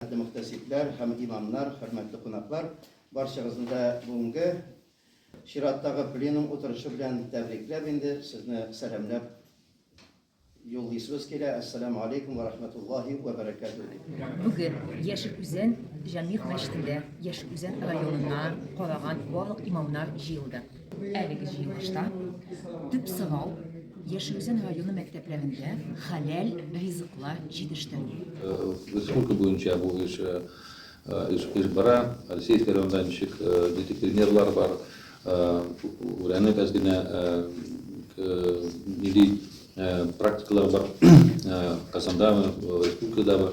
Хөрмәтле мөхтәсибләр һәм имамнар, хөрмәтле кунаклар, барчагызны да бүгенге чираттагы пленум утырышы белән тәбрикләп инде сезне сәламләп юллыйсыбыз килә. Әссәламу алейкум ва рахматуллахи ва баракатуху. Бүген Яшел Үзән Җәмигъ мәчетендә Яшел Үзән районына караган барлык имамнар җыелды. Әлеге җыелышта төп сорау Яшелүзән районы мәктәпләрендә хәләл ризыклар җитештерү. Республика буенча бу эш эш бара. Алексеевский районда ничек нинди примерлар бар, өйрәнеп әз генә нинди практикалар бар Казандамы, республикадамы.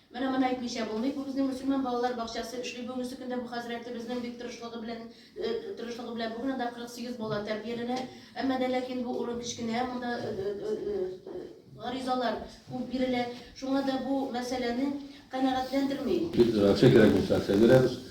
Менә моны әйтмичә булмый, бу безнең мөселман балалар бакчасы эшли бүгенге көндә бу хәзрәтебезнең бик тырышлыгы белән, тырышлыгы белән бүген анда 48 бала тәрбияләнә. Әмма дә ләкин бу урын кечкенә, монда гаризалар күп бирелә, шуңа да бу мәсьәләне канәгатьләндерми. Федерация кирәк булса, әкчә бирәбез.